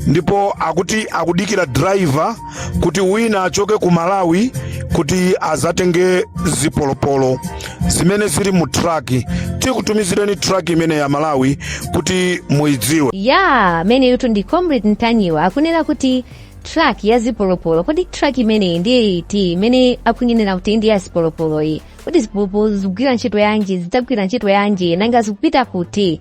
ndipo akuti akudikira driver kuti wina achoke ku malawi kuti azatenge zipolopolo zimene zili mu truck tikutumizireni truck imeneyi a malawi kuti muidziwe ameneyutu ndi comrade ntanyiwa akunena kuti truck ya zipolopolo kodi truck imeneyi ndiye iti imene akunenera kuti ndi ya zipolopoloyi kodi zipolopolo zikugwira ntchito yanji zidzagwira ntchito yanji nanga zikupita kuti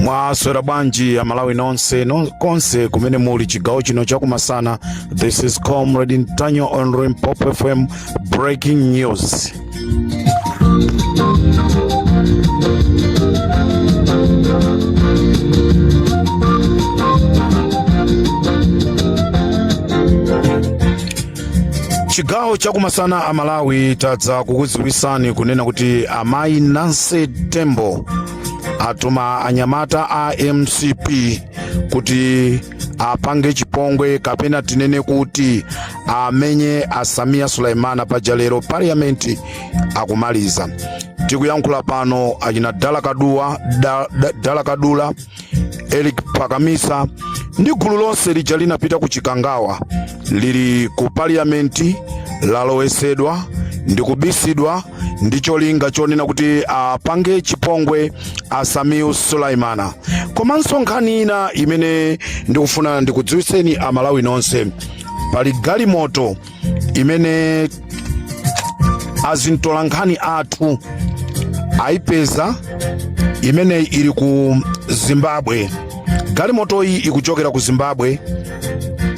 mwaswera bwanji a malawi nonse konse kumene muli chigawo chino chakumasana this is comrade ntanyiwa on limpopo fm breaking news chigawo chakumasana a malawi tadza kukudziwitsani kunena kuti amayi nancy tembo atuma anyamata a mcp kuti apange chipongwe kapena tinene kuti amenye a sameer suleman paja lero parliament akumaliza tikuyankhula pano achina dala kadula eric pakamisa ndi gulu lonse lija linapita ku chikangawa lili ku parliament lalowesedwa ndi kubisidwa ndi cholinga chonena kuti apange chipongwe a sameer suleman komanso nkhani ina imene ndikufuna ndikudziwitseni amalawi nonse pali galimoto imene azimtolankhani athu aipeza imene ili ku zimbabwe galimotoyi ikuchokera ku zimbabwe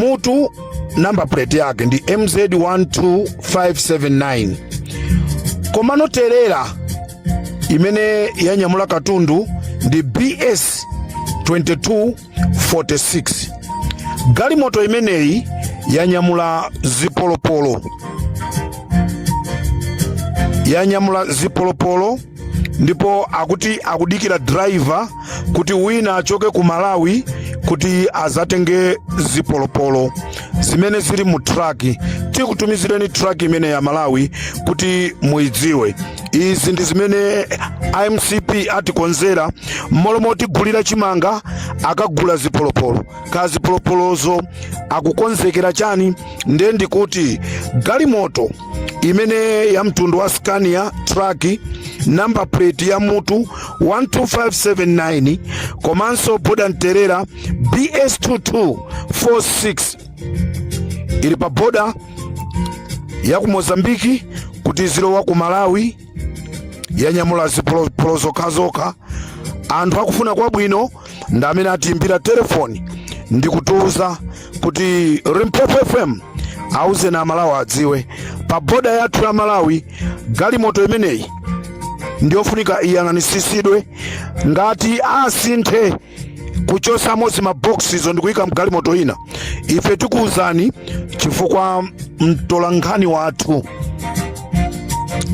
mutu number plate yake ndi mz 12579 komano trailer imene yanyamula katundu ndi bs 2246 galimoto imeneyi yanyamula zipolopolo ndipo akuti akudikira driver kuti wina achoke ku malawi kuti azatenge zipolopolo zimene zili mu truck tikutumizireni truck imeneyi a malawi kuti muidziwe izi ndi zimene a mcp atikonzera mmalo motigulira chimanga akagula zipolopolo ka zipolopolozo akukonzekera chani ndiye ndikuti galimoto imene ya mtundu wa Scania truck number plate ya mutu 12579 komanso boda trailer BS2246 ili pa boda ya ku Mozambiki kuti zilowe ku Malawi yanyamula zipolopolo zokhazokha anthu akufuna kwabwino ndi amene atiimbira telefoni ndi kutiuza kuti limpopo fm auzeni amalawi adziwe pa boda yathu ya malawi galimoto imeneyi ndiyofunika iyang'anisisidwe ngati asinthe kuchosamo zimabokosizo ndikuyika mgalimoto ina ife tikuwuzani chifukwa mtolankhani wathu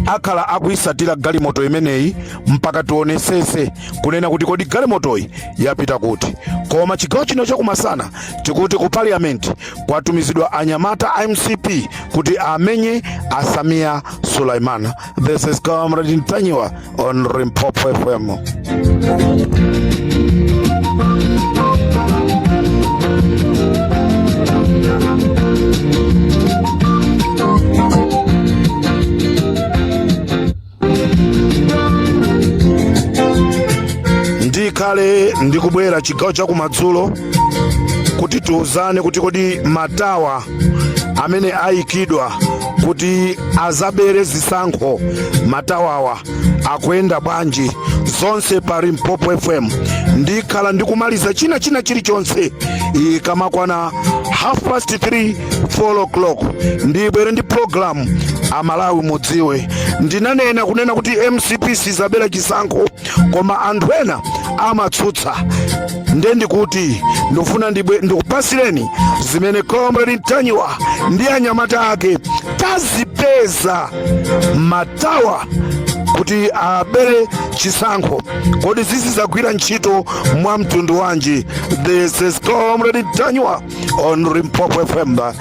akhala akuyisatira galimoto imeneyi mpaka tionesese kunena kuti kodi galimotoyi yapita kuti koma chigawo chino chakumasana tikuti ku parliament kwatumizidwa anyamata a mcp kuti amenye a Sameer Suleman this is comrade ntanyiwa on Limpopo FM. ndikhala ndikubwera chigawo chakumadzulo kuti tiuzane kuti kodi matawa amene ayikidwa kuti azabere zisankho matawawa akuyenda bwanji zonse pa limpopo fm ndikhala ndikumaliza china china chilichonse ikamakwana half past 3 4 o'clock ndibwere ndi pulogalamu amalawi mudziwe ndinanena kunena kuti mcp sizabera chisankho koma anthu ena amatsutsa nde ndikuti ndikufuna ndibwe- ndikupasireni zimene comrade ntanyiwa ndi anyamata ake tazipeza matawa kuti abere chisankho kodi zizizagwira ntchito mwa mtundu wanji this is comrade ntanyiwa on limpopo fm